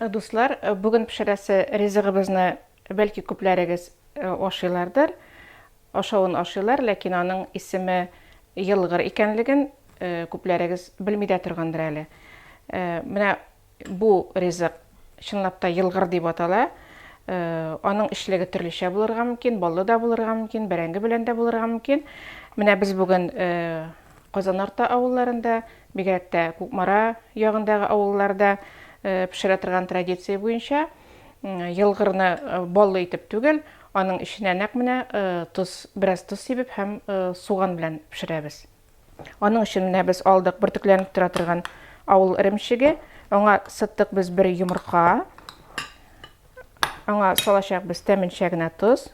Дуслар, бүген пешерәсе ризыгыбызны бәлки күпләрегез ашыйлардыр, ашавын ашыйлар, ләкин аның исеме елгыр икәнлеген күпләрегез белми дә торгандыр әле. Менә бу ризык чынлап та елгыр дип атала. Аның эчлеге төрлечә булырга мөмкин, баллы да булырга мөмкин, бәрәңге белән дә булырга мөмкин. Менә без бүген Казанарта авылларында, бигрәк тә Кукмара ягындагы авылларда пешерә торган традиция буенча елгырны баллы итеп түгел, аның эченә нәкъ менә тоз, бераз тоз сибеп һәм суган белән пешерәбез. Аның өчен менә без алдык бөртекләнеп тора торган авыл эремчеге. Аңа сыттык без бер йомырка. Аңа салачак без тәменчә генә тоз.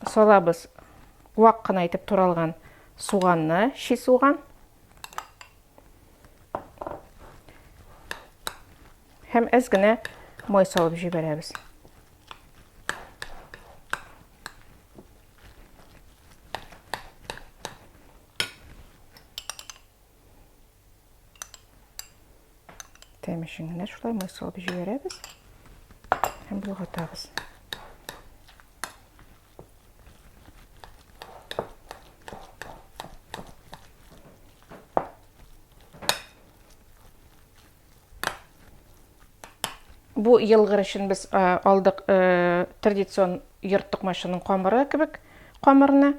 салабыз вак кына итеп туралган суганны, чи суган. Һәм әз генә май салып җибәрәбез. Тәмешен генә шулай май салып җибәрәбез һәм болгатабыз. Бу елгыр өчен без алдык традицион йорт токмачының камыры кебек камырны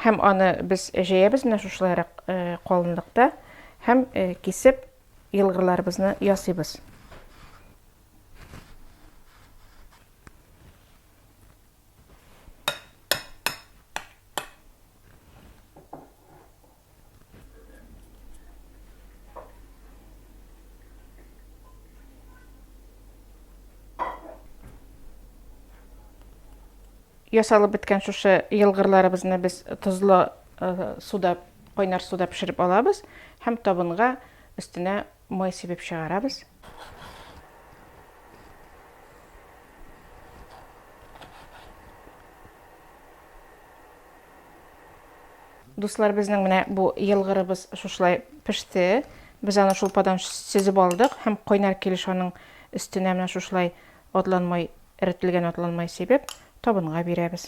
һәм аны без җәябез менә шушылайрак калынлыкта һәм кисеп елгырларыбызны ясыйбыз. ясалып беткән шушы елгырларыбызны без тозлы суда кайнар суда пешереп алабыз һәм табынга өстенә Май сибеп чыгарабыз. Дуслар, безнең менә бу елгырыбыз шушылай пеште. Без аны шулпадан сөзеп алдык һәм кайнар килеш аның өстенә менә шушылай атланмай, эретелгән атланмай сибеп, табынга бирәбез.